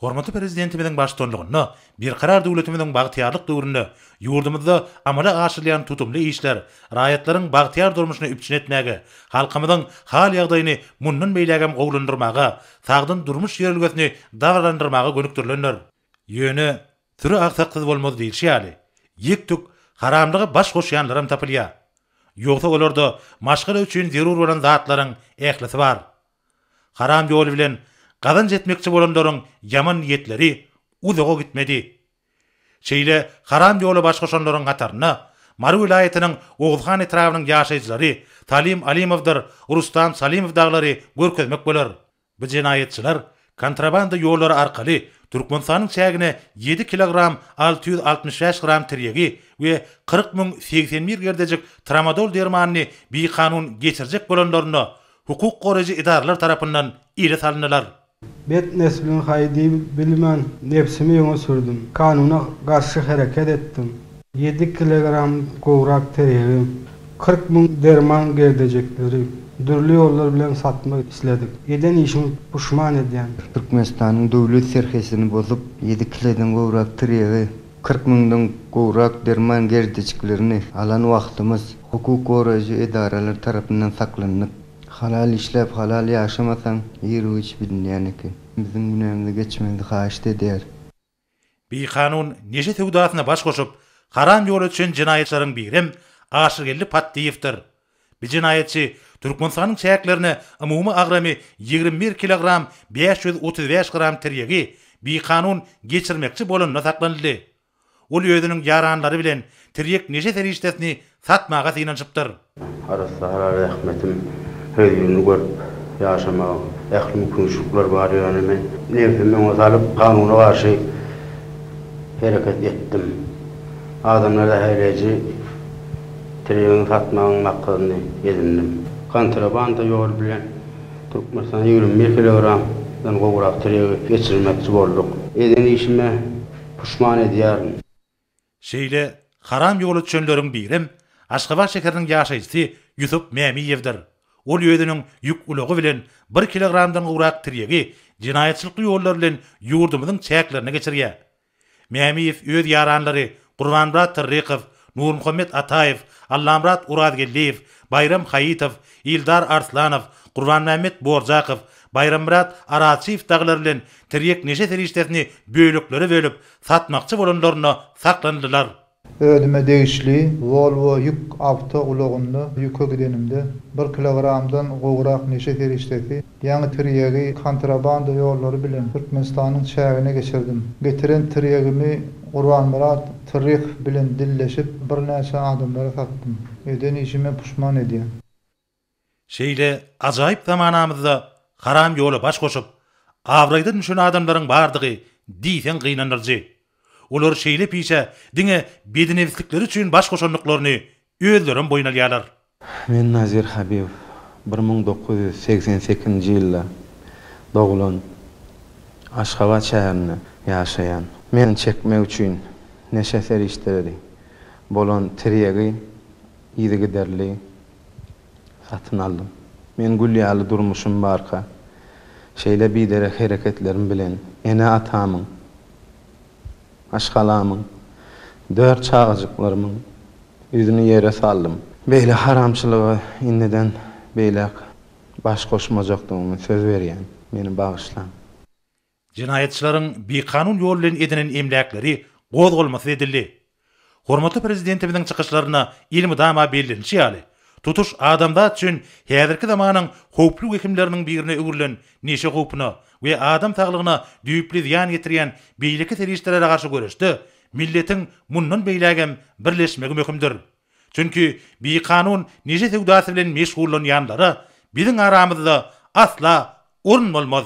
Hormatly Prezidentimiziň baştutanlygynda Berkarar döwletimiziň bagtyýarlyk döwründe ýurdumyzda amala aşyrylýan tutumly işler raýatlaryň bagtyýar durmuşyny üpjün etmäge, halkymyzyň hal-ýagdaýyny mundan beýlägem gowulandyrmaga, sagdyn durmuş ýörelgesini dabaralandyrmaga gönükdirilendir. Ýöne, Süri agsaksyz bolmaz diýlişi ýaly, ýek-tük haramlyga baş goşýanlaram tapylýar. Ýogsa olarda maşgala üçin zerur bolan zatlaryň ählisi bar. Haram ýol bilen gazanç etmekçi bolanlaryň ýaman niýetleri uzaga gitmedi. Şeýle haram ýola baş goşanlaryň hatarynda Mary welaýatynyň Oguzhan etrabynyň ýaşaýjylary Salim Alimowdyr Rustam Salimow daglary görkezmek bolar. Bu jenaýatçylar Kontrabanda ýollary arkaly Türkmenistanyň çägine ýedi kilogram alty ýüz altmyş bäş gram tirýegi we kyrk müň segsen bir gerdejik tramadol dermanyny bikanun geçirjek bolanlarynda hukuk goraýjy edaralar tarapyndan ele salyndylar. Bet nesliň haý diýip bilmän, nebsimi öňe sürdüm. Kanuna garşy hereket etdim. Ýedi kilogram gowrak teregi, kyrk müň derman gerdejekleri dürli ýollar bilen satmak isledik. Eden işim puşman edýän. Türkmenistanyň döwlet serhetini bozup, ýedi kilodan gowrak tiregi, kyrk müňden gowrak derman gerdejiklerini alan wagtymyz, hukuk goraýjy edaralar tarapyndan saklandyk. Halal işläp, halal ýaşamasaň, ýerigiçi bilinýän eken. Biziň günämize geçmegiňizi haýyşt edýäris. Bikanun neşe söwdasyna baş goşup, haram ýola düşen jenaýatçylaryň birem Aşyrgeldi Patdyýewdir. Bu jenaýatçy Türkmenistanyň çäklerine umumy agramy ýigrimi bir kilogram bäş ýüz otuz bäş gram tirýegi bikanun geçirmekçi bolanda saklanyldy. Ol özüniň ýaranlary bilen tirýek neşe serişdesini Satmaga synanyşypdyr. Arassa-hara zähmetim hözirini görüp, ýaşamaga ähli mümkinçilikler bar, ýöne men nebsimi öňe salyp, kanuna garşy hereket etdim. Adamlar zäherleýji treýegiň satmagyň maksadyny edindim. Kontrabanda ýoly bilen Türkmenistana ýigrimi bir kilogramdan gowrak treýegi geçirmekçi bolduk. Eden işime puşman edýärin. Şeýle haram ýola düşenleriň birem Aşgabat şäheriniň ýaşaýjysy Ýusup Mämiýewdir. Ol özüniň ýük ulagy bilen bir kilogramdan gowrak tirýegi jenaýatçylykly ýollar bilen ýurdumyzyň çäklerine geçirýär. Mämiýew öz ýaranlary Gurbanmyrat Tyrrykow, Nurmuhammet Ataýew, Allamyrat Urazgeldiýew, Baýram Haýytow, Ildar Arslanow, Gurbanmämmet Borjakow, Baýrammyrat Arazçyýew dagylar bilen tirýek neşe serişdesini böleklere bölüp, satmakçy bolanlarynda saklandylar. Özüme degişli Volvo ýük awto ulagynda ýüke gidenimde, bir kilogramdan gowrak neşe serişdesi, ýaňy tirýegi kontrabanda ýollary bilen Türkmenistanyň çägine geçirdim. Getiren tirýegimi Gurbanmyrat Trryhow bilen dilleşip, birnäçe adamlara satdym. Eden işime puşman edýän. Şeýle ajaýyp zamanamyzda haram ýola baş goşup, abraýdan düşen adamlaryň bardygy diýseň gynandyryjy. Olar şeýle pişä diňe bedinebislikleri üçin baş goşandyklaryny özlerem boýun alýarlar. Men Nazir Habibow. Bir müň dokuz ýüz segsen sekizinji ýylda doglan, Aşgabat şäherinde ýaşaýan. Men çekmek üçin neşe serişdeleri bolan tirýegi yzygiderli Satyn aldym. Men gül ýaly durmuşym barka, şeýle biderek hereketlerim bilen ene-atamyň, maşgalamyň, dört çagajyklarymyň ýüzüni ýere saldym. Beýle haramçylyga indiden beýläk baş goşmajakdygymy söz berýän. Meni bagyşlaň. Jenaýatçylaryň bikanun ýol bilen edinen emläkleri gozgalmasyz edildi. Hormatly Prezidentimiziň çykyşlarynda elmydama bellenişi ýaly, tutuş adamzat üçin häzirki zamanyň howply wehimleriniň birine öwrülen neşe howpuna we adam saglygyna düýpli zyýan ýetirýän beýleki serişdelere garşy göreşde milletiň mundan beýlägem birleşmegi möhümdir. Çünki bikanun neşe söwdasy bilen meşgullanýanlara biziň aramyzda asla orun bolmaz.